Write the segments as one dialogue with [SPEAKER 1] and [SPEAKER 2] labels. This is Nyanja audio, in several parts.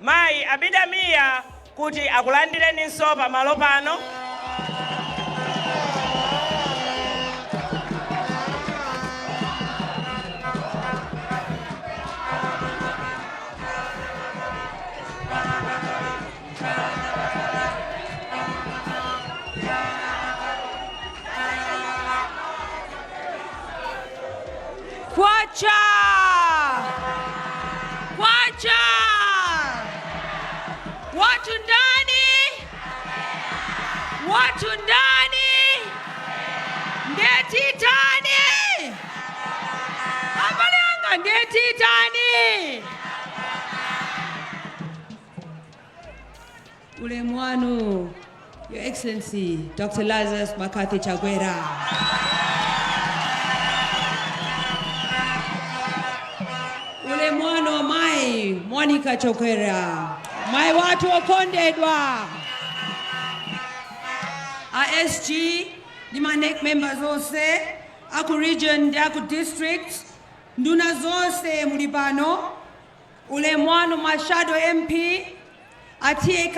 [SPEAKER 1] Mayi Abida Mia kuti akulandireninso pamalo pano.
[SPEAKER 2] Kwacha! Kwacha! Watu ndani! Watu ndani! Ndetitani! Abale anga ndetitani! Ulemu wanu Your Excellency Dr. Lazarus McCarthy Chakwera. Ulemu wanu amayi Monica Chakwera, mayi wathu okondedwa. A SG ndi ma NEC members onse aku region ndi aku district, nduna zonse muli pano, Ulemu wanu ma shadow MP, a TA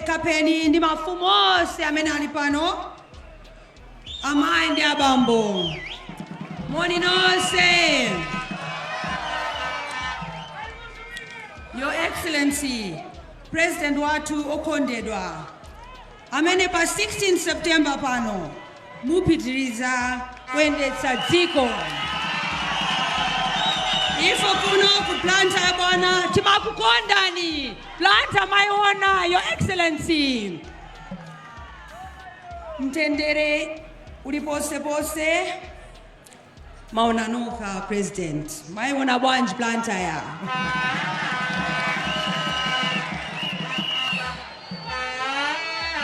[SPEAKER 2] Kapeni ndi mafumu onse amene ali pano, amayi ndi abambo, moni nonse. Your Excellency, President wathu okondedwa. amene pa 16 September pano mupitiriza kuyendetsa dziko. Ife kuno ku Blantyre bwana timakukondani, Blantyre maiona Your Excellency. Mtendere uli ponse ponse. Maona nokha president. Maiona bwanji Blantyre?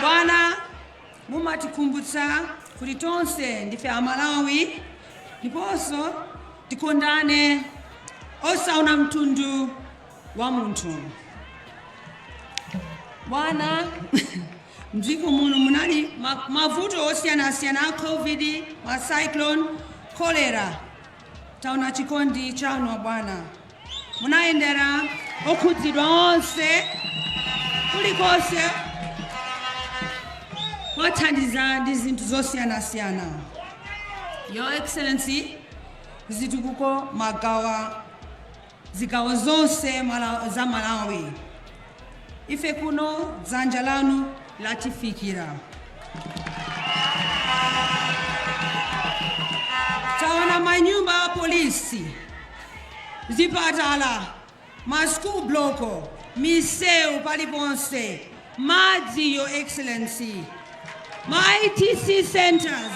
[SPEAKER 2] Bwana mumatikumbutsa kuti tonse ndife Amalawi ndiponso tikondane osaona mtundu wa munthu. Bwana, m'dziko muno munali mavuto osiyanasiyana a covid ma cyclone cholera taona chikondi chanu abwana munayendera okhudzidwa onse kulikonse kuwathandiza ndi zinthu zosiyanasiyana your excellency zitukuko mwagawa zigawo zonse za Malawi. Ife kuno dzanja lanu latifikira. Taona manyumba a polisi, zipatala, ma school block, misewu paliponse, madzi, Your Excellency, ma ITC centres,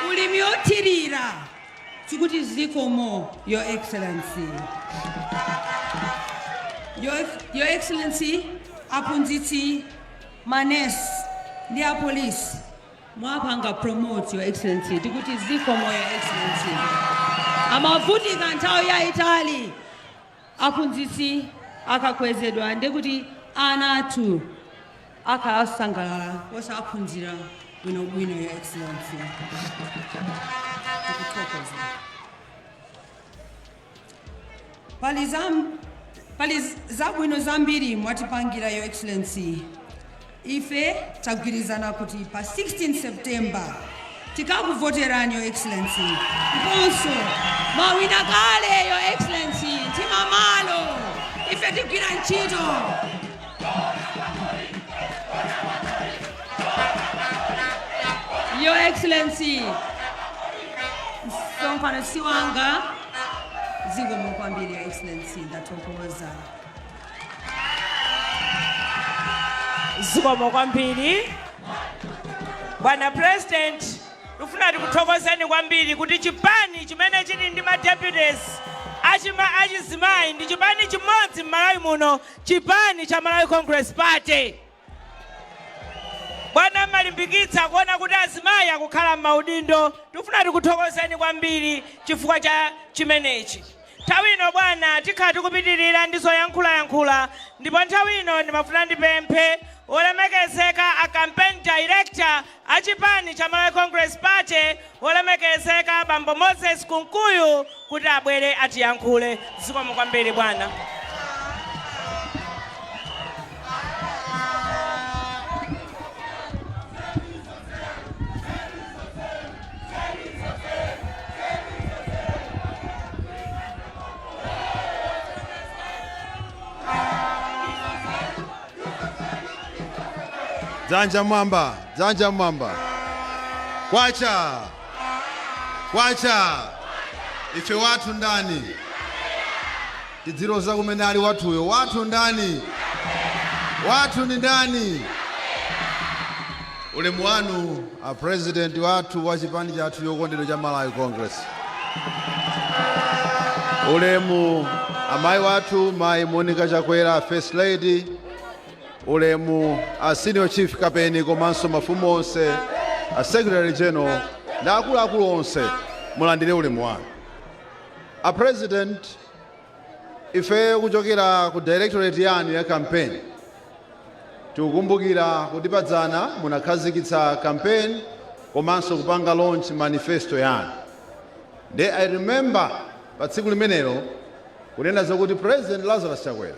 [SPEAKER 2] ulimi othirira. Tikuti zikomo, Your Excellency. Your Excellency, aphunzitsi, ma nurse ndi a police mwapanga promote, Your Excellency. Tikuti zikomo, Your Excellency. Amavutika nthawi yaitali. Aphunzitsi akakwezedwa ndiye kuti ana athu akhala osangalala ndiponso akaphunzira bwinobwino Your Excellency. Pali zabwino zambiri mwatipangira Your Excellency. Ife tagwirizana kuti pa 16 September tikakuvoterani your excellency ndiponso mwawina kale your excellency mtima malo ife tigwira ntchito. Your excellency msonkhano si wanga zikomo kwambiri your excellency ndathokoza.
[SPEAKER 1] zikomo kwambiri bwana president tifuna tikuthokozeni kwambiri kuti chipani chimene chili ndi madeputies achizimayi ndi chipani chimodzi m'malawi muno chipani cha malawi congress party Bwana mmalimbikitsa kuona kuti azimayi akukhala mmaudindo. Tikufuna tikuthokozeni kwambiri chifukwa cha chimenechi. Nthawi ino bwana tikhala tikupitilira ndi zoyankhulayankhula ndipo nthawi ino ndimafuna ndipemphe Wolemekezeka a Campaign Director A chipani cha Malawi Congress Party wolemekezeka bambo Moses Kunkuyu kuti abwere atiyankhule. Zikomo kwambiri bwana.
[SPEAKER 3] Dzanja mwamba, dzanja mwamba. Kwacha, kwacha. Ife wathu ndani? Tidziloza kumene ali wathuyo. Wathu ndani? Wathu ni ndani? Ulemu wanu A president wathu wa chipani chathu chokondedwa cha Malawi Congress. Ulemu amai wathu mai Monica Chakwera First Lady. Ulemu a Senior Chief Kapeni komanso mafumu onse, a Secretary General ndi akuluakulu onse mulandire ulemu wanu. A president Ifeyo kuchokera ku directorate yanu ya campaign tikukumbukira kuti padzana munakhazikitsa campaign komanso kupanga launch manifesto yanu nde I remember pa tsiku limenelo kunena zokuti President Lazarus Chakwera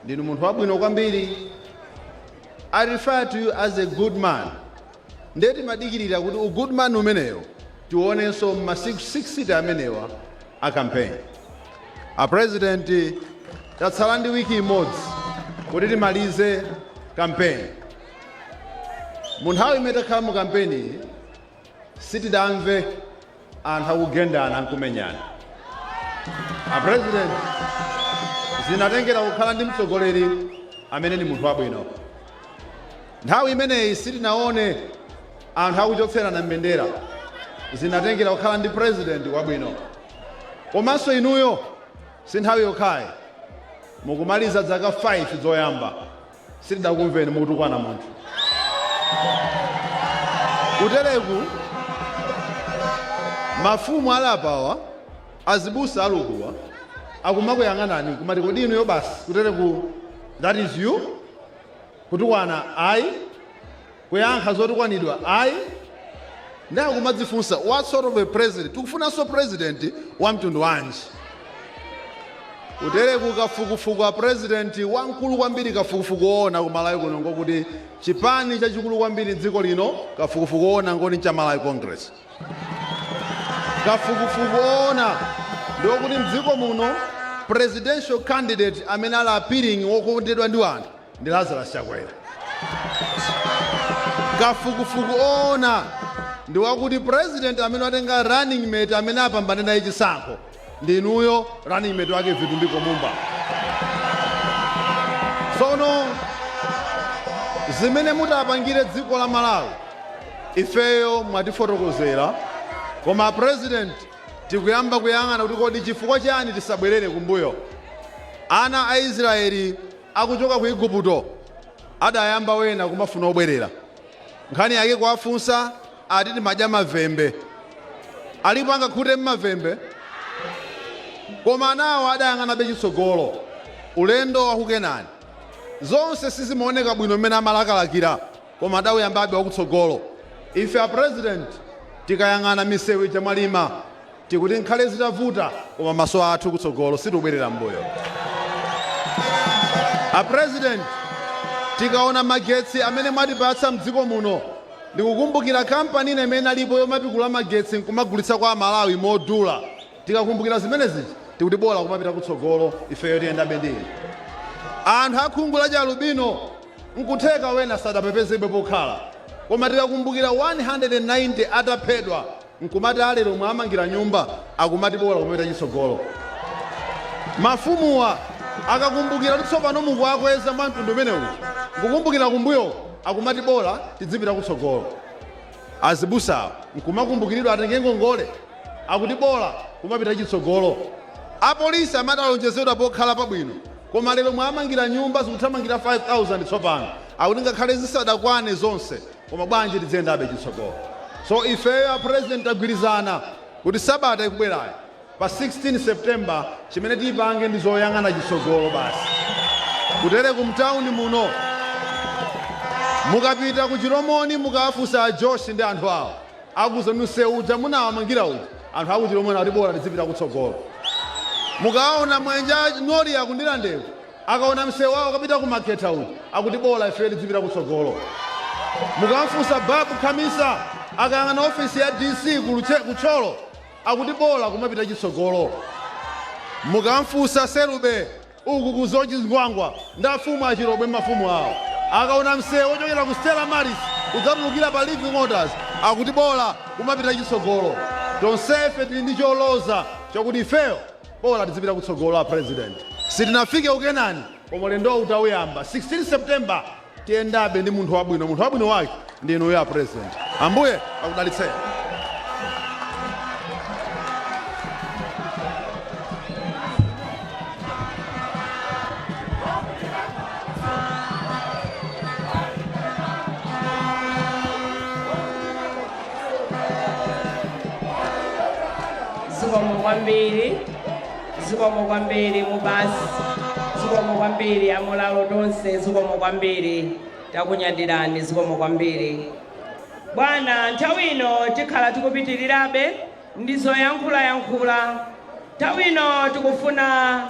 [SPEAKER 3] ndinu munthu wabwino kwambiri I refer to you as a good man Nde timadikilira kuti u good man umenewo tiuonenso m'masiku 60 amenewa a campaign. A president tatsala ndi week imodzi kuti timalize campaign. Mu nthawi imene takhala mu campaign iyi sitidamve anthu akugendana nkumenyana a president zinatengera kukhala ndi mtsogoleri amene ni munthu wabwino nthawi imeneyi sitinaone anthu akuchotserana mbendera zinatengera kukhala ndi president wabwino komanso inuyo si nthawi yokhayi mukumaliza zaka 5 zoyamba sitidakumveni mukutukwana munthu kutereku mafumu ali apawa azibusa alukuwa akumakuyang'anani kumati kodi inuyo basi kutereku that is you kutukwana ayi Kuyankha zotukwanidwa ayi nde akumadzifunsa what sort of a president tikufunanso president wa mtundu wanji? Kutereku kafukufuku a president wamkulu kwambiri kafukufuku woona ku Malawi kuno ngokuti chipani chachikulu kwambiri mdziko lino kafukufuku woona ngoti ncha Malawi Congress. Kafukufuku woona ndiokuti mdziko muno presidential candidate amene ali appealing wokondedwa ndi anthu ndi Lazarus Chakwera. Kafukufuku oona ndi wakuti president amene watenga running mate amene apambane naye chisankho ndi inuyo running mate wake Vitumbiko Mumba. Tsono zimene mutaapangire dziko la Malawi ifeyo mwatifotokozera, koma president tikuyamba kuyang'ana kuti kodi chifukwa chani tisabwerere kumbuyo. Ana a Israeli akuchoka ku Igupto adayamba wena kumafuna obwerera. Nkhani yake kuwafunsa ati timadya mavembe. Alipo angakhute mavembe? Koma anawo adayang'anabe chitsogolo. Ulendo wa ku Kenani. Zonse sizimaoneka bwino mmene amalakalakira koma adauyambabe wakutsogolo. Ife a President tikayang'ana misewu ija mwalima. Tikuti nkhale zitavuta koma maso athu kutsogolo sitibwerera mmbuyo. A president tikaona magetsi amene mwatipatsa mdziko muno ndikukumbukira company ina imene inalipo yomapikula magetsi nkumagulitsa kwa amalawi modula tikakumbukira zimene zija tikuti bola kumapita kutsogolo ifeyo tiyendabe ndi inu. Anthu a khungu la chialubino nkutheka ena sadapezebe pokhala koma tikakumbukira 190 ataphedwa nkumati alero mwawamangira nyumba akumati bola kumapita chitsogolo. Mafumuwa akakumbukira kuti tsopano mukuwakweza mwa mtundu umenewu nkukumbukira kumbuyoko akumati bola tidzipita kutsogolo. Azibusawo nkumakumbukiridwa atenge ngongole akuti bola kumapita chitsogolo. Apolisi amati akalonjezedwa pokhala pabwino koma lero mwawamangira nyumba zikuthamangira 5000 tsopano akuti ngakhale zisadakwane zonse Koma bwanji tidziyendabe chitsogolo. So ifeyo a president tagwirizana kuti sabata ikubwerayo pa 16 September chimene tipange ndi zoyang'ana chitsogolo basi. Kutereku mtown muno mukapita ku Chilomoni mukawafunse a Josh ndi anthu awo akuuzani msewu uja munawamangira uja anthu aku Chilomoni ati bola tidzipita kutsogolo. Mukaona Mwenje a Nori aku Ndirande uku Akaona mseu wawo wopita ku Makhetha uja akuti bola ifeyo tidzipita kutsogolo. Mukamfunsa Babu Khamisa akayang'ana ofesi ya DC ku Thyolo akuti bola kumapita chitsogolo. Mukamfunsa Selube uku ku Soche Zingwangwa ndi afumu a Chilobwe mafumu awo akaona mseu wochokera ku Stella Maris kudzatulukira pa Living Waters akuti bola kumapita chitsogolo. Tonsefe tili ndi choloza chakuti ifeyo Bola tidzipita kutsogolo a president sitinafike ku Kenani koma ulendowu utawuyamba 16 September tiyendabe ndi munthu wabwino munthu wabwino wake ndi inuyo a president ambuye akudalitseni.
[SPEAKER 1] zikomo kwambiri zikomo kwambiri mubasi zikomo kwambiri amulalo tonse zikomo kwambiri takunyadirani zikomo kwambiri bwana nthawi ino tikhala tikupitirirabe ndi zoyankhulayankhula nthawi ino tikufuna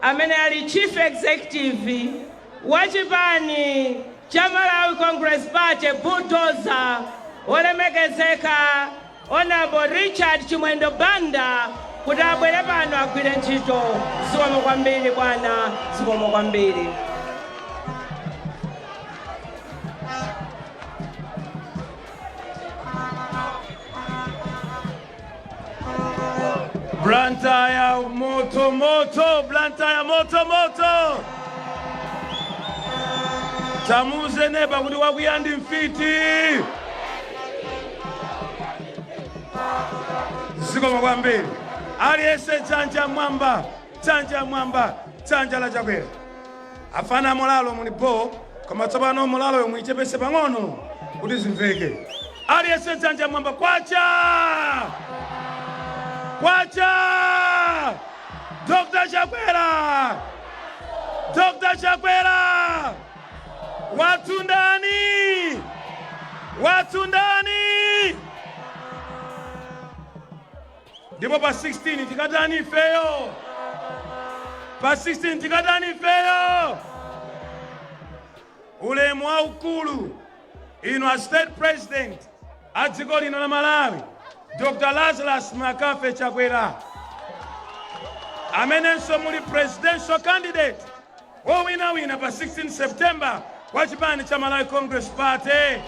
[SPEAKER 1] amene ali chief executive wa chipani cha Malawi Congress Party Bulldozer wolemekezeka Honourable Richard Chimwendo Banda kuti abwere pano agwire ntchito. Zikomo kwambiri bwana, zikomo kwambiri.
[SPEAKER 4] Blantyre moto moto, Blantyre moto moto. Tamuze neba kuti wakwiya ndi mfiti. Zikomo kwambiri. Aliyense dzanja mwamba, dzanja mwamba, dzanja la chakwera. Afana a molalo muli bho koma tsopano molaloyo muichepese pang'ono kuti zimveke. Aliyense dzanja mwamba kwacha! Kwacha! Dr. Chakwera! Dr. Chakwera! Watu ndani! Watu ndani! Ndipo pa 16 tikatani ifeyo? Pa 16 tikatani ifeyo? Ulemu waukulu inu a State President a dziko lino la Malawi, Dr. Lazarus McCarthy Chakwera, amenenso muli presidential candidate wowinawina pa 16 September wa chipani cha Malawi Congress Party.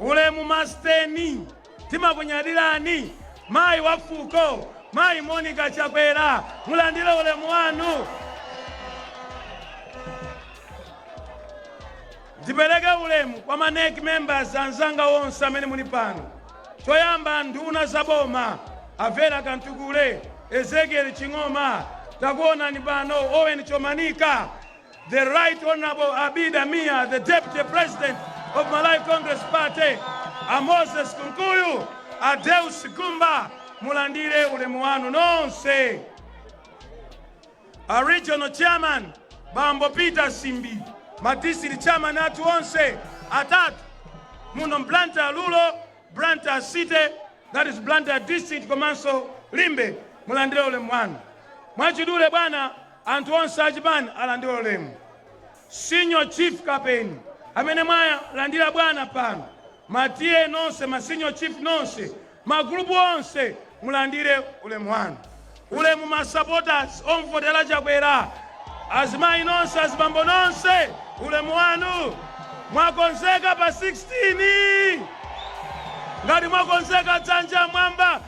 [SPEAKER 4] Ulemu masteni timakunyadilani mayi wa fuko mayi Monica Chakwera mulandile ulemu wanu. Ndipeleke ulemu kwa ma NEC members anzanga wonse amene muli pano. Choyamba nduna za boma a Vera Kamtukule, Ezekiel Ching'oma, takuonani pano Owen Chomanika, The Right Honourable Abida Mia, the Deputy President of Malawi Congress Party, a Moses Kunkuyu, a Deus Gumba, mulandire ulemu wanu nonse. A Regional Chairman, Bambo Peter Simbi, ma District Chairman athu onse atatu muno Blantyre Rural, Blantyre City, that is Blantyre District komanso Limbe, mulandire ulemu wanu. Mwachidule bwana, Anthu onse achipani alandire ulemu. Senior Chief Kapeni amene mwawalandira bwana pano, ma TA nonse, ma Senior Chief nonse, ma gulupu onse mulandire ulemu wanu. Ulemu ma supporters omvotera Chakwera, azimayi nonse, azibambo nonse, ulemu wanu. Mwakonzeka pa 16? Ngati mwakonzeka dzanja mwamba.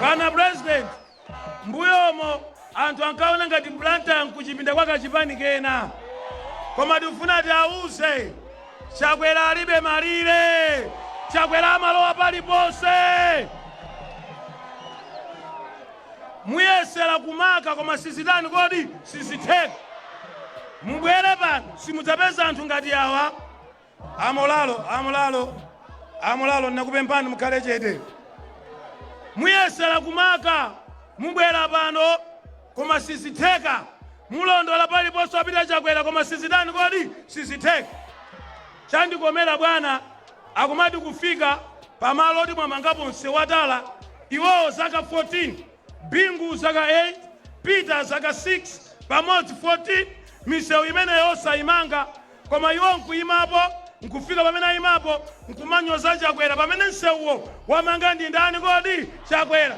[SPEAKER 4] bwana president m'mbuyomu anthu ankaona ngati Blantyre nkuchipinda kwa kachipani kena koma tikufuna tiawuze chakwera alibe malire chakwera amalowa paliponse muyesera kumaka koma sizitani kodi sizitheka mubwere pano simudzapeza anthu ngati awa Amolalo, Amolalo, Amolalo, nakupempani mukhale chete. Muyesera kumaka, mubwera pano koma sizitheka. Mulondola paliponse wapita Chakwera koma sizitani kodi? Sizitheka. Chandikomera bwana akumati kufika pamalo oti mwamangapo msewu watala iwowo zaka 14 bingu zaka 8 peter zaka 6 pamodzi 14 misewu imeneyo osayimanga Koma iwo nkuyimapo, nkufika pamene ayimapo, nkumanyoza Chakwera pamene nsewuwo wamanga ndi ndani kodi? Chakwera.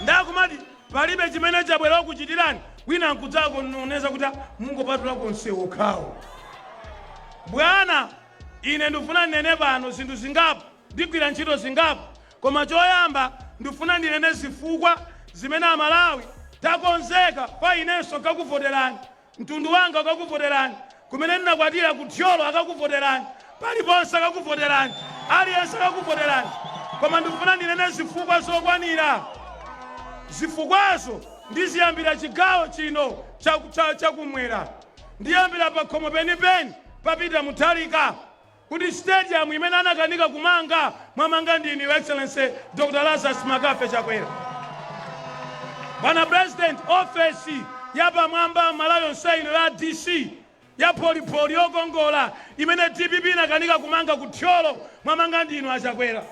[SPEAKER 4] Nde akumati palibe chimene Chakwera wakuchitirani, wina nkudzakononeza kuti mungopatulako nsewu okhawo. Bwana, ine ndifuna ndinene pano zinthu zingapo, ndigwira ntchito zingapo, koma choyamba ndifuna ndinene zifukwa zimene Amalawi takonzeka pa inenso nkakuvoterani. Mtundu wanga akakuvoterani, kumene ndinakwatira ku Thyolo akakuvoterani, paliponse akakuvoterani, aliyense akakuvoterani. Koma ndifuna ndinene zifukwa zokwanira. Zifukwazo ndiziyambira chigawo chino chakumwera. Ndiyambira pakhomo penipeni pa Peter Mutharika. kuti stadium imene anakanika kumanga mwamanga ndinu your excellency Dr Lazarus McCarthy Chakwera bwana president office yapamwamba Malawi yonse ino ya DC ya polipoli yokongola imene dpp inakanika kumanga ku Thyolo mwamanga ndinu achakwera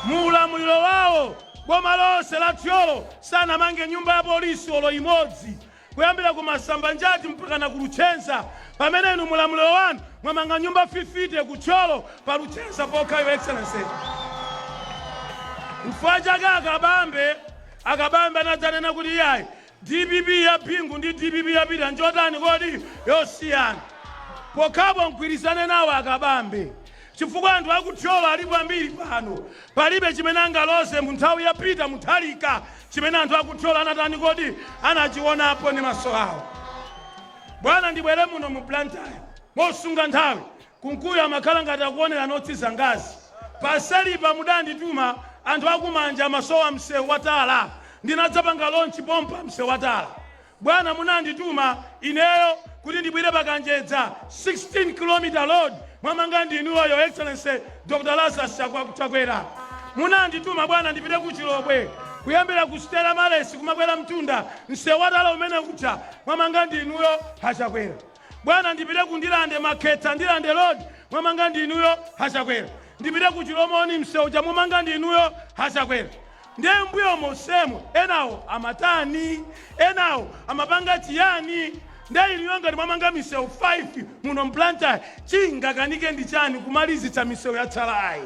[SPEAKER 4] mu ulamuliro wawo boma lonse la Thyolo sanamange nyumba ya polisi olo imodzi kuyambira ku Masambanjati mpakana ku Luchenza pamene inu mulamuliro wanu mwamanga nyumba 50 ku Thyolo pa Luchenza pokha your excellency. Nchifukwa chake akabambe akabambe anadzanena kuti iyayi dpp ya Bingu ndi dpp ya Peter njotani kodi yosiyana pokhapo mgwirizane nawo akabambe Chifukwa anthu aku Thyolo alipo ambiri pano palibe chimene angaloze mu nthawi ya Peter Mutharika chimene anthu aku Thyolo anatani kodi anachionapo ndi maso awo bwana ndibwere muno mu Blantyre mosunga nthawi Kunkuyu amakhala ngati akuonera notsi zangazi paselipa mudandituma anthu aku Manja amasowa mseu wa tala ndinadzapanga launch pompa mseu wa tala Bwana, munandituma ineyo kuti ndibwere pa Kanjedza, 16 kilometer road, mwamanga ndi inuyo, Your Excellency Dr Lazarus Chakwera. Munandituma bwana ndipite ku Chilobwe, kuyambira ku Stella Maris kumakwera mtunda, msewu watala umene uja mwamanga ndi inuyo, a Chakwera. Bwana, ndipite ku Ndirande, Makhetha, Ndirande road, mwamanga ndi inuyo, a Chakwera. Ndipite ku Chilomoni, msewu uja mwamanga ndi inuyo, a Chakwera. Ndiye m'mbuyo monsemo enawo amatani? Enawo amapanga chiyani? Ndiye inuyo ngati mwamanga misewu 5 muno m'Blantyre chingakanike ndi chani kumalizitsa misewu yatsalayi?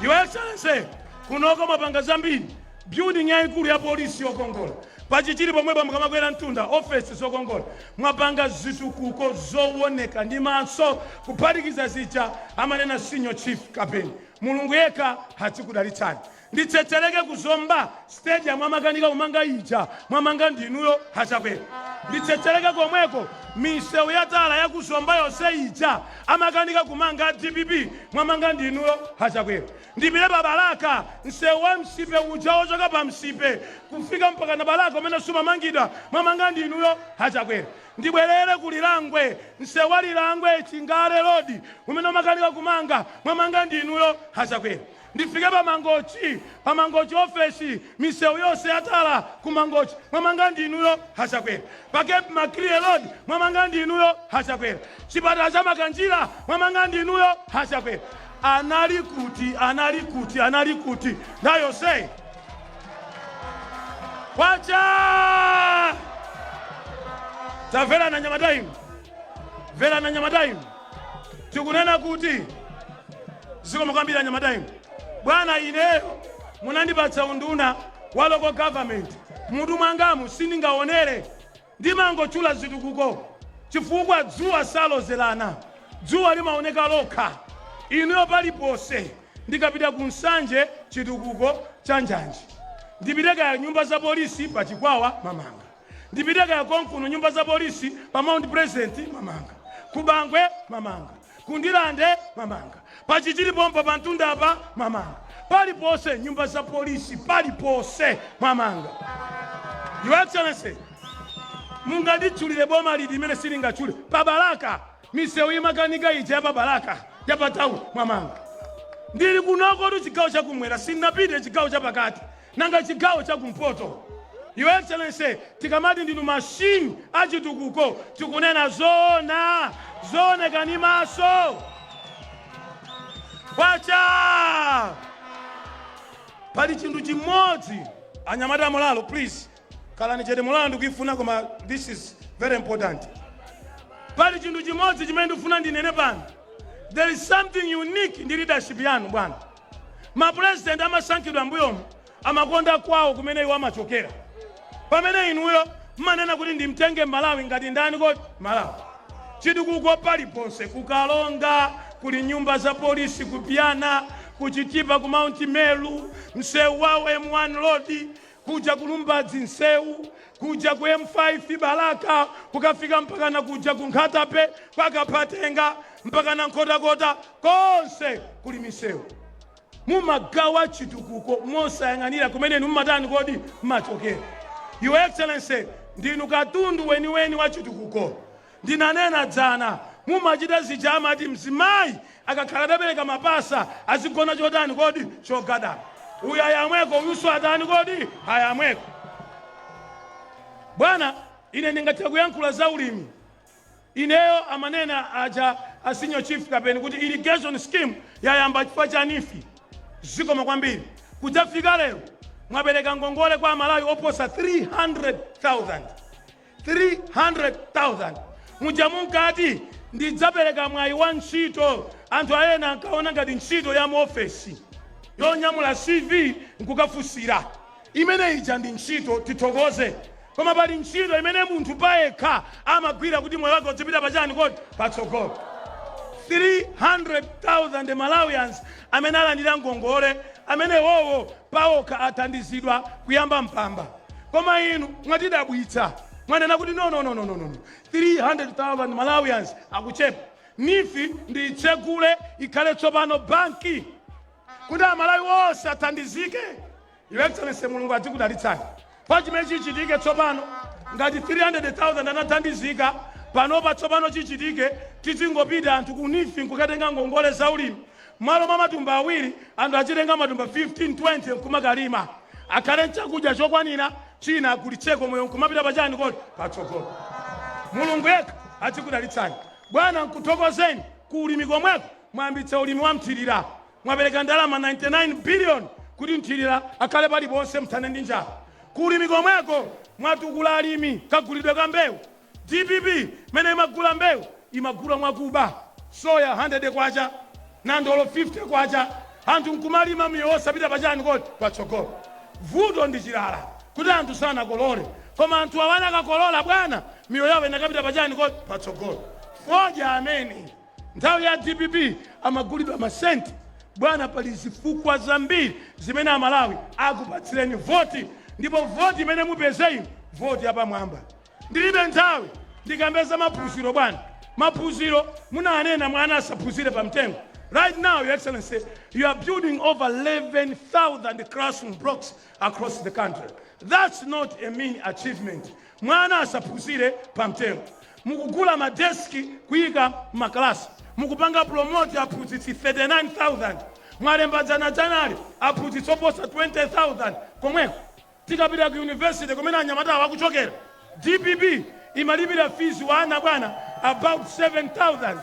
[SPEAKER 4] Your Excellency, kunoko mwapanga zambiri, building yayikulu ya polisi yokongola, pa Chichiri pomwepa mukamakwera mtunda ofesi zokongola, mwapanga zitukuko zowoneka ndi maso kuphatikiza zija amanena Senior Chief Kapeni. Mulungu yekha atikudalitsani. Nditsetseleke ku Zomba stadium amakanika kumanga ija mwamanga ndinuyo a Chakwera nditsetseleke komweko misewu ya tala ya ku Zomba yonse ija amakanika kumanga DPP mwamanga ndinuyo a Chakwera ndipite pa Balaka msewu wa Nsipe uja wochoka pa Nsipe kufika mpakana Balaka umene sumamangidwa mwamanga ndinuyo a Chakwera Ndibwerere ku Lirangwe, msewu wa Lirangwe, Chingale road umene umakanika kumanga, mwamanga ndi inuyo a Chakwera. Ndifike pa Mangochi, pa Mangochi office, misewu yonse ya tala ku Mangochi, mwamanga ndi inuyo a Chakwera. Pa Cape Maclear road, mwamanga ndi inuyo a Chakwera. Chipatala cha Makanjira, mwamanga ndi inuyo a Chakwera. Anali kuti, anali kuti, anali kuti nthawi yonseyi? kwacha tamverana anyamata inu tamverana anyamata inu tikunena kuti zikomo kwambiri anyamata inu bwana ineyo munandipatsa unduna wa local government mutu mwangamu sindingaonere Ndimangotchula zitukuko chifukwa dzuwa salozerana, dzuwa limaoneka lokha, inuyo palipose. Ndikapita ku Nsanje chitukuko cha njanji, ndipite kaya nyumba za polisi pa Chikwawa mwamanga, ndipite kaya konkuno nyumba za polisi pa Mount Pleasant mwamanga, ku Bangwe mwamanga. Ku Ndirande mwamanga pa Chichiri pompa pamtunda apa mwamanga paliponse nyumba za polisi paliponse mwamanga Your Excellency munganditchulire boma liti limene silingatchule pa Balaka misewu imakanika ija ya pa Balaka ya pa town mwamanga ndili kunokotu chigawo chakumwera sindinapite chigawo chapakati Nanga chigawo cha kumpoto? Your Excellency, tikamati ndinu machine a chitukuko tikunena zoona, zooneka ndi maso. Kwacha! Pali chinthu chimodzi anyamata mulalo please khalani chete mulalo ndikuifuna koma this is very important. Pali chinthu chimodzi chimene ndikufuna ndinene pano. There is something unique ndi leadership yanu bwana. Ma president amasankhidwa mbuyomu amakonda kwawo kumene iwo amachokera. Pamene inuyo mmanena kuti ndimtenge Malawi ngati ndani kodi? Malawi. Chitukuko paliponse ku Karonga kuli nyumba za polisi ku Ipyana, ku Chitipa ku Mount Meru, msewu wa M1 road, kuja ku lumbadzi nseu kuja ku m5 balaka kukafika mpakana kuja ku nkhatabay kwa kaphatenga mpakana nkhotakota konse kuli miseu mumagawa chitukuko mosayang'anira kumene inu mumatani kodi mmachokera your excellency ndinu katundu weniweni wa chitukuko Ndinanena dzana mumachita zija amati mzimayi akakhala atabereka mapasa azigona chotani kodi? Chogada. Uyu ayamweko uyunso atani kodi? Ayamweko. Bwana ine ndingathe kuyankhula za ulimi ineyo amanena aja a Senior Chief Kapeni kuti irrigation scheme yayamba chifukwa cha Neef. Zikomo kwambiri. Kudzafika lero mwapereka ngongole kwa Amalawi oposa 300,000. 300,000 muja munkati ndidzapereka mwayi wa ntchito, anthu ena ankaona ngati ntchito ya muofesi yonyamula CV nkukafunsira. Imene ija ndi ntchito, tithokoze. Koma pali ntchito imene munthu payekha amagwira kuti moyo wake udzipita pachani kodi patsogolo. 300,000 Malawians amene alandira ngongole, amene wowo paokha athandizidwa kuyamba mpamba koma inu mwatidabwitsa mwanena kuti no, no, no, no, no, no. 300,000 malawians akuchepa neef ndiitsegule ikhale tsopano banki kuti amalawi onse athandizike your excellency mulungu adzikudalitsani Pa chimene chichitike tsopano, ngati 300,000 anathandizika panopa, tsopano chichitike, tizingopita anthu ku Neef nkukatenga ngongole za ulimi. Mmalo mwa matumba awiri, anthu azitenga matumba 15, 20 nkumakalima. Akhale nchakudya chokwanira, china agulitseko, moyo nkumapita pa chani kodi? Patsogolo. Mulungu yekha adzikudalitsani bwana, nkuthokozeni. Ku ulimi komweko mwayambitsa ulimi wa mthirira. Mwapereka ndalama 99 billion kuti mthirira akhale paliponse mthane ndi njala. Ku ulimi komweko mwatukula alimi kagulidwe ka mbewu. Dpp mene imagula mbewu imagula mwakuba. Soya K100, nandolo K50 anthu nkumalima miyoyo osapita pa chani kodi? Patsogolo. Vuto ndi chilala kuti anthu sanakolole koma anthuawa anakakolola bwana? Miyoyo yawo inakapita pa chani kodi? Patsogolo. Fodya amene. Nthawi ya dpp amagulidwa ma cent. Bwana pali zifukwa zambiri zimene amalawi akupatsireni voti ndipo voti imene mupeze inu voti yapamwamba. Ndilibe nthawi ndikambe za maphunziro bwana. Maphunziro munanena mwana asaphunzire pa mtengo. Right now your excellency you are building over 11000 classroom blocks across the country. That's not a mean achievement. Mwana asaphunzire pa mtengo. Mukugula ma desk kuyika m'ma class, mukupanga promote aphunzitsi 39,000, mwalemba dzanadzanali aphunzitsi oposa 20,000 komweko. Tikapita ku university kumene anyamatawa akuchokera, dpp imalipira fees wa ana bwana about 7000.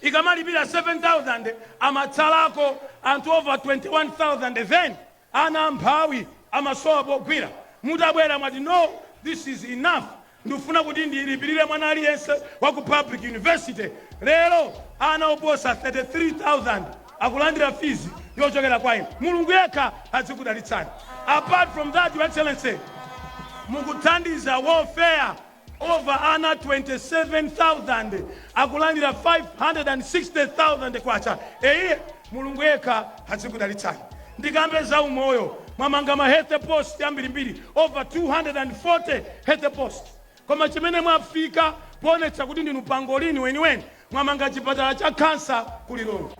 [SPEAKER 4] Ikamalipira 7000 amatsalako anthu over 21000 then Ana amphawi amasowa pogwira, mutabwera mwati no this is enough ndufuna kuti ndilipirire mwana aliyense wa ku public university lero ana oposa 33000 akulandira fees yochokera kwa inu Mulungu yekha adzikudalitsani apart from that your excellency mukuthandiza welfare Over ana 27,000 akulandira K560,000 eyie Mulungu yekha adzikudalitsani. Ndikambe za umoyo mwamanga ma health post ambirimbiri over 240 health post koma chimene mwafika poonetsa kuti ndinu pangolin weniweni mwamanga chipatala cha cancer ku Lilongwe.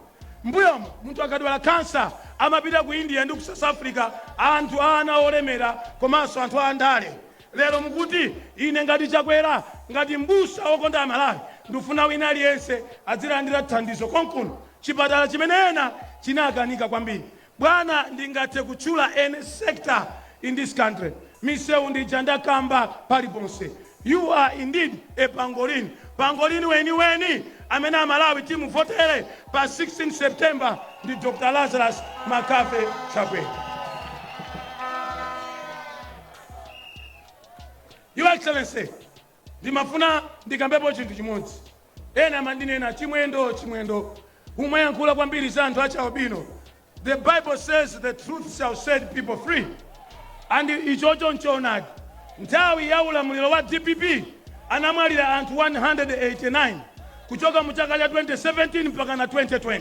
[SPEAKER 4] Mmbuyomu munthu akadwala cancer amapita ku India ndi ku South Africa anthu a ana olemera komanso anthu a ndale Lero mukuti ine ngati Chakwera ngati mbusa wokonda Amalawi ndufuna wina aliyense adzilandira thandizo konkuno, chipatala chimene ena chinakanika kwambiri. Bwana ndingathe kutchula any sector in this country. Misewu ndija ndakamba paliponse. You are indeed a pangolin, pangolin weniweni amene Amalawi timuvotere pa 16 September ndi Dr. Lazarus McCarthy Chakwera. Your Excellency, ndimafuna ndikambepo chinthu chimodzi. Ena amandinena Chimwendo Chimwendo umayankhula kwambiri za anthu achi albino. The Bible says the truth shall set people free. And ichocho nchoonadi. Nthawi ya ulamuliro wa DPP anamwalira anthu 189 kuchoka mu chaka cha 2017 mpaka na 2020.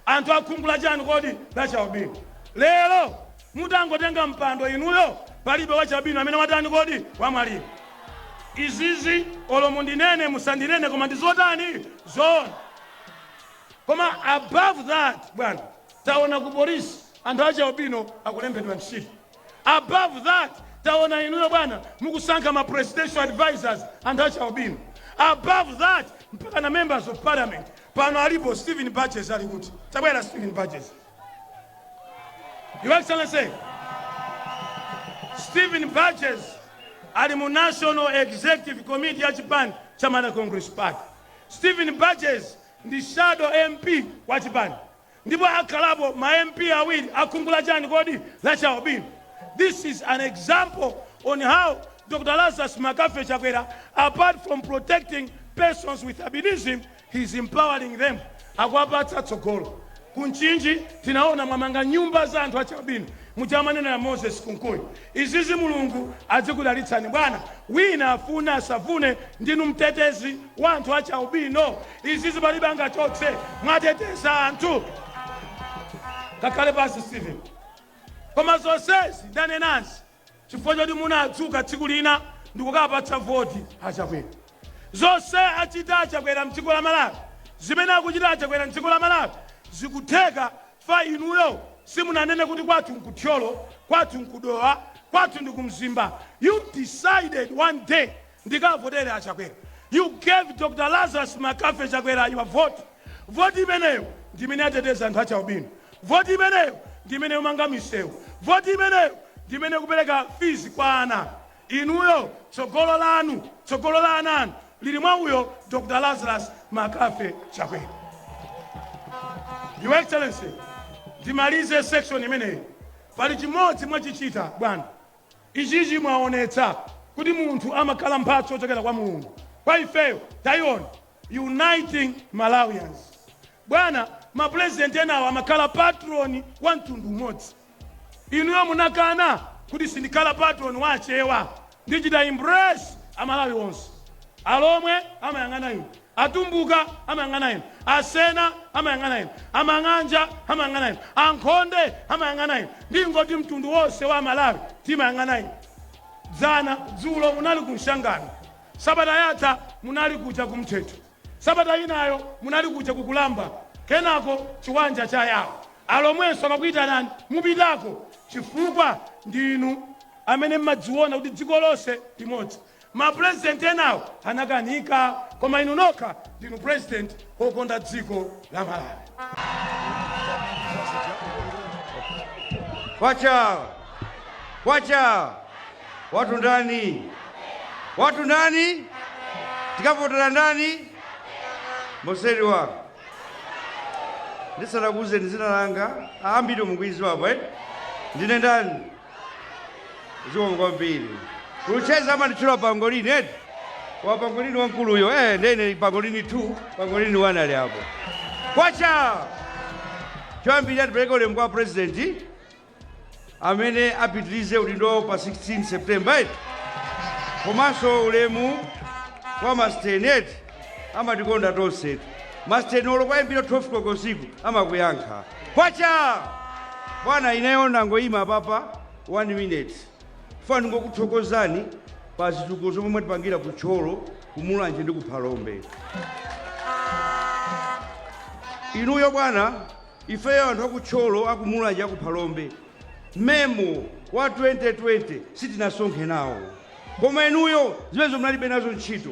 [SPEAKER 4] Anthu akhungu la chani kodi la chi albino. Lero Mungotenga mpando inuyo palibe wachialubino amene watani kodi? Wamwalira. Izizi olo mundinene musandinene koma ndi zotani? Zoona. Koma above that bwana taona ku police anthu achialubino akulembedwa ntchito. Above that taona inuyo bwana mukusankha ma presidential advisors anthu achialubino. Above that mpakana members of parliament pano alipo Steven Burgess ali kuti? Tabwera Steven Burgess. Your Excellency, Stephen Burgess ali mu National Executive Committee ya chipani cha Malawi Congress Party. Stephen Burgess ndi shadow MP wa chipani ndipo akhalapo ma MP awiri akhungu la chani kodi lachialubino. This is an example on how Dr. Lazarus McCarthy Chakwera apart from protecting persons with albinism He is empowering them, akuwapatsa tsogolo. Ku Mchinji tinaona mwamanga nyumba za anthu achi albino muja amanenera Moses Kunkuyu. Izizi Mulungu adzikudalitsani bwana. Wina afune asafune ndinu mtetezi wa anthu achi albino. Izizi palibe angachotse. Mwateteza anthu. Kakhale pansi Steven. Koma zonsezi ndanenazi chifukwa choti munadzuka tsiku lina ndikukapatsa voti a Chakwera. Zonse achita a Chakwera mdziko la Malawi, zimene akuchita a Chakwera mdziko la Malawi zikutheka chifukwa inuyo simunanene kuti kwathu nku Thyolo, kwathu nku Dowa, kwathu ndi ku Mzimba. You decided one day Ndikavotere a Chakwera. You gave Dr Lazarus McCarthy Chakwera your vote. Vote imeneyo ndi imene yateteza anthu achi albino. Vote imeneyo ndi imene ikumanga misewu. Vote imeneyo ndi imene ikupereka fees kwa ana. Inuyo tsogolo lanu, tsogolo la ana anu lili mwa uyo Dr Lazarus McCarthy Chakwera. Your Excellency, ndimalize section imeneyi. Pali chimodzi mwachichita bwana. Ichichi mwaonetsa kuti munthu amakhala mphatso yochokera kwa Mulungu kwa ifeyo taiona uniting Malawians bwana ma president enawo amakhala patron wa mtundu umodzi inuyo munakana kuti sindikhala patron wa achewa ndichita embrace amalawi onse alomwe amayang'ana inu Atumbuka amayang'ana inu, Asena amayang'ana inu, Amang'anja amayang'ana inu, Ankhonde amayang'ana inu, ndingoti mtundu wonse wa Amalawi timayang'ana inu. Dzana, dzulo munali ku Mshangano, sabata yatha munali kuja ku Mthetho, sabata inayo munali kuja ku Kulamba, kenako Chiwanja cha Yao. Alomwenso akakuitanani mupitako chifukwa ndinu amene mmadziona kuti dziko lonse ndi limodzi. Ma president enawo anakanika koma inu nokha ndinu president okonda dziko la
[SPEAKER 5] Malawi. Kwacha! Kwacha! Watu ndani? Watu ndani? Tikavotera ndani? Osaliwa. Ndisanakuuzeni zina langa. Ambiri mukuidziwa apa, eh? Ndine ndani? zikomo kwambiri kucheza amanditchula pangolini eti wa pangolini wamkuluyo eh, ndene pangolini 2 pangolini 1 ali apo kwacha choyambirira tipereke ulemu kwa president amene apitirize udindo wawo pa 16 septemba eti komanso ulemu kwa masteneti amatikonda tonse masitenolo kuwayimbira 12 koloko usiku amakuyankha kwacha bwana ineyo ndangoyima papa 1 minute ndifuna ndingokuthokozani pa zitukuko zomwe mwatipangira ku tcholo ku mulanje ndi ku phalombe inuyo bwana ifeyo anthu akutcholo akumulanje akuphalombe Memo wa 2020 sitinasonkhe nawo koma inuyo zimenezo munalibe nazo ntchito.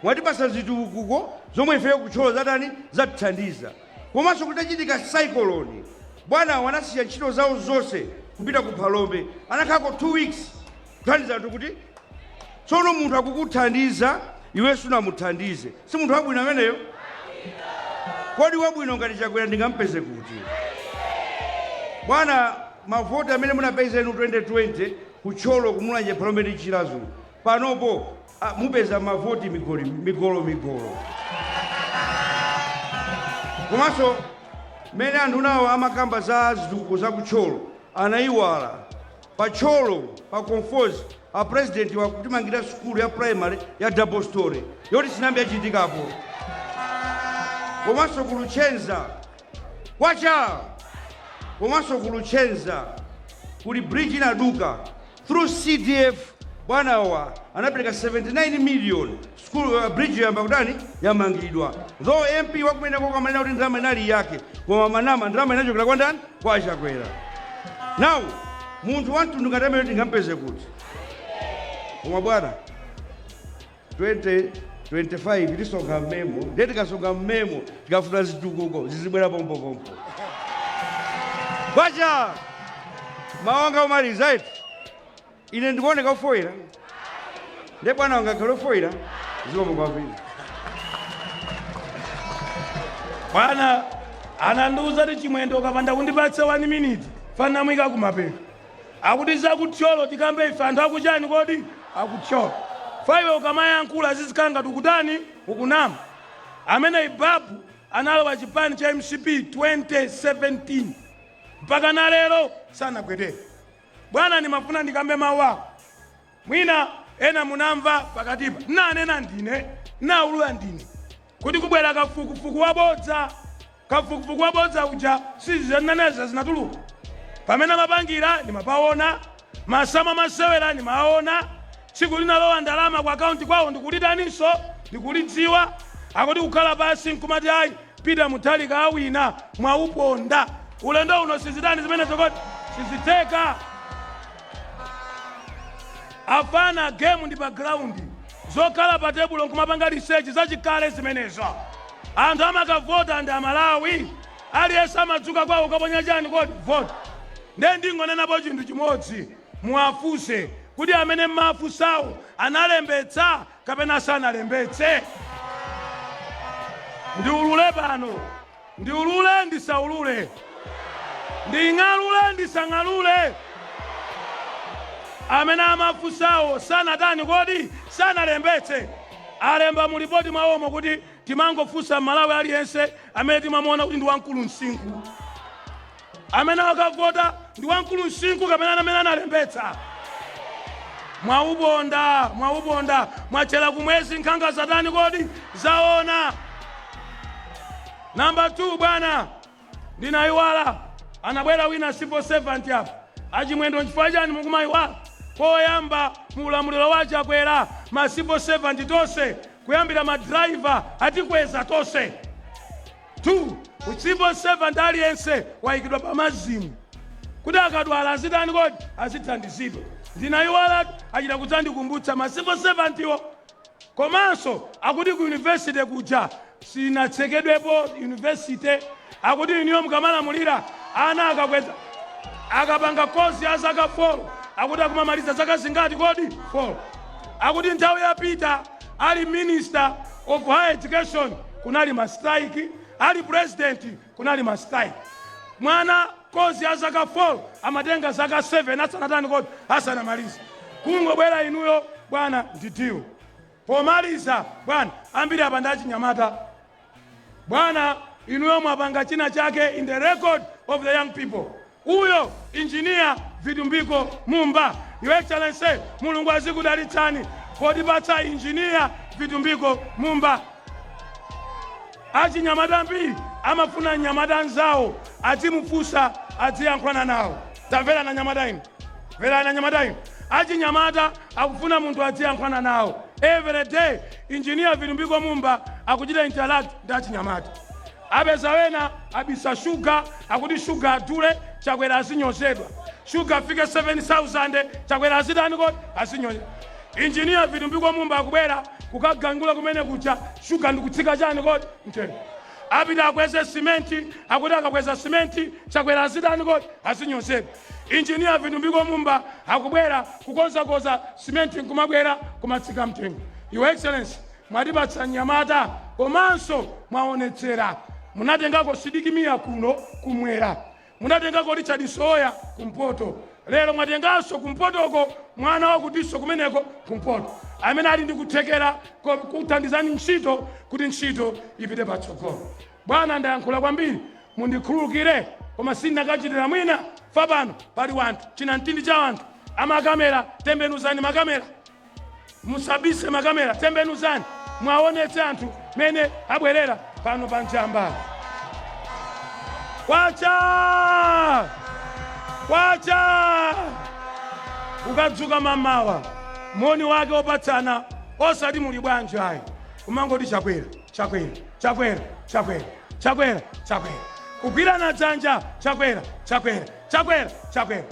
[SPEAKER 5] Mwatipatsa zitukuko zomwe ifeyo kutcholo zatani zatithandiza. Komanso kutachitika saikoloni bwanawo anasiya ntchito zawo zonse kupita ku Phalombe anakhalako 2 weeks. kuthandiza anthu kuti tsono munthu akukuthandiza iwe sunamuthandize si munthu wabwino ameneyo kodi wabwino ngati chakwera ndingampeze kuti bwana mavoti amene munapeza inu 2020 kutcholo kumulanje phalombe ndi chilazulu panopo ah, mupeza mavoti migolo migolo komanso mmene anthu nawo amakamba za zitukuko za kutcholo anayiwala Pa Thyolo pa Conforzi a president wa akutimangira sukulu ya primary ya double story yoti sinayambe yachitikapo. Komanso ku Luchenza kwacha komanso ku Luchenza kuli bridge inaduka through CDF bwanawa anapereka 79 million School bridge yayamba kutani yamangidwa though MP wakumenekoko amanena kuti ndalama inali yake koma amanama ndalama inachokera kwa ndani kwa Chakwera now munthu wamtundu ngati ameneyu tingampeze kuti koma bwana 2025 tisonkha mmemo ndiye tikasonkha mmemo tikafuna zitukuko zizibwera pompopompo kwacha mawu anga omaliza eti Ine ndikuoneka ofoira? Nde bwana wanga akhale ofoira? Zikomo
[SPEAKER 4] kwambiri. Bwana anandiuza kuti chimwendo ukapanda kundipatsa 1 minute fanamwika kumapeto akuti za ku Thyolo tikambe ife anthu akuchani kodi aku Thyolo faiwe ukamayankhula zizikhala ngati ukutani ukunama amene ibabu analowa chipani cha mcp 2017 mpaka na lero sanagwedere Bwana, ndimafuna ndikambe mawu awa. Mwina ena munamva pakatipa, ndinanena ndine, ndinaulula ndine kuti kubwera kafukufuku wabodza. Kafukufuku wabodza uja sizizananeza zinatuluka pamene amapangira, ndimapawona masama masewera, ndimaawona Tsiku linalowa ndalama ku account kwawo ndikulitaninso? Ndikulidziwa? Akuti kukhala pasi nkumati ayi Peter Mutharika awina mwauponda. Ulendo uno sizitani zimenezo kodi? Sizitheka. Afana game ndi pa ground. Zokhala pa tebulo nkumapanga research zachikale zimenezo. Anthu amakavota ndi Amalawi. Aliyense amadzuka kwawo kukaponya chani kodi? Vote. Nde ndingonenapo chinthu chimodzi. Muwafunse kuti amene m'mawafunsawo analembetsa kapena sanalembetse? Ndiulule pano? Ndiulule? Ndisaulule? Nding'alule? Ndisang'alule? Amene amafunsawo sanatani kodi? Sanalembetse? Alemba mu lipoti mwawomo kuti timangofunsa m'Malawi aliyense amene timamuona kuti ndi wamkulu msinkhu? amene wakavota ndi wamkulu msinkhu kapena amene analembetsa. Mwauponda, mwauponda, mwatchera kumwezi nkhanga zatani kodi? Zaona. Namba 2 bwana, ndinayiwala anabwera wina civil servant apa achimwendo nchifukwa chani mukumayiwala koyamba mu ulamuliro wa chakwera ma civil servant tonse kuyambira ma driver atikweza tonse 2 civil servant aliyense waikidwa pa MASM kuti akadwala azitani kodi azithandizidwa ndinayiwalatu achita kudzandikumbutsa ma civil servant wo komanso akuti ku university kuja sinatsekedwepo university akuti inuyo mukamalamulira ana akakweza akapanga course ya zaka 4 akuti akumamaliza zaka zingati kodi 4 akuti nthawi ya Peter Ali minister of higher education kunali ma strike, ali president kunali ma strike. Mwana course ya zaka 4 amatenga zaka 7 asanatani kodi asanamalize. Kungobwera inuyo bwana ndi deal. Pomaliza bwana ambiri apa ndi achinyamata. Bwana, inuyo mwapanga china chake in the record of the young people. Uyo engineer Vitumbiko Mumba. Your Excellency, Mulungu azikudalitsani potipatsa engineer Vitumbiko Mumba. Achinyamata ambiri amafuna nyamata nzawo adzimufunsa adziyankhulana nawo. Tamverana anyamata inu. Mverana anyamata inu. Achinyamata akufuna munthu adziyankhulana nawo. Every day, engineer Vitumbiko Mumba akuchita interact ndi achinyamata. Apeza wena abisa shuga, akuti shuga adule, Chakwera azinyozedwa. Shuga afike 7,000, Chakwera azitani kodi? Azinyozedwa. Engineer Vitumbiko Mumba akubwera kukagangula kumene kucha, shuga ndikutsika chani kodi? Mtengo. Apite akweze cement, akuti akakweza cement Chakwera azitani kodi? Azinyozedwa. Engineer Vitumbiko Mumba akubwera kukonzakonza cement nkumabwera kumatsika mtengo. Your Excellency, mwatipatsa mnyamata komanso mwaonetsera. Munatengako Sidiki Mia kuno kumwera. Munatengako Richard Msowoya kumpoto lero mwatenganso kumpotoko mwana wakutinso kumeneko kumpoto amene ali ndi kuthekera kuthandizani ntchito kuti ntchito ipite patsogolo. Bwana ndayankhula kwambiri mundikhululukire koma sindinakachitira mwina fa pano pali wanthu chinamtindi cha wanthu amakamera tembenuzani makamera. musabise makamera tembenuzani mwaonetse anthu mene abwerera pano pa njamba kwacha kwacha ukadzuka mamawa moni wake opatsana osati muli bwanji ayi kumangoti chakwera chakwera chakwera chakwera chakwera chakwera kugwirana dzanja chakwera chakwera Chakwera chakwera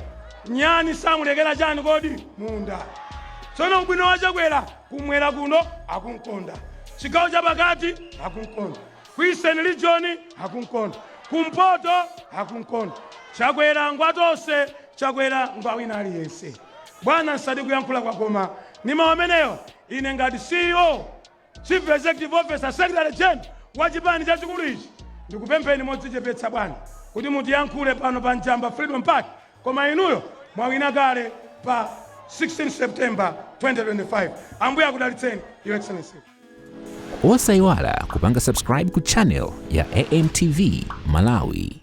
[SPEAKER 4] nyani samulekera chani kodi munda tsono ubwino wa chakwera kumwera kuno akunkonda chigawo cha pakati akunkonda ku eastern region akunkonda kumpoto akunkonda chakwera ngwatonse chakwera ngwawina aliyense bwana nsatalikitse kuyankhula koma ndi mawu amenewa ine ngati ceo Chief Executive Officer, Secretary General wa chipani chachikulu ichi, ndikupempheni modzichepetsa bwana kuti mutiyankhule pano pa Njamba Freedom Park, koma inuyo mwawina kale pa 16 September 2025. Ambuye akudalitseni, Your
[SPEAKER 6] Excellency. Osaiwala kupanga subscribe ku channel ya AMTV Malawi.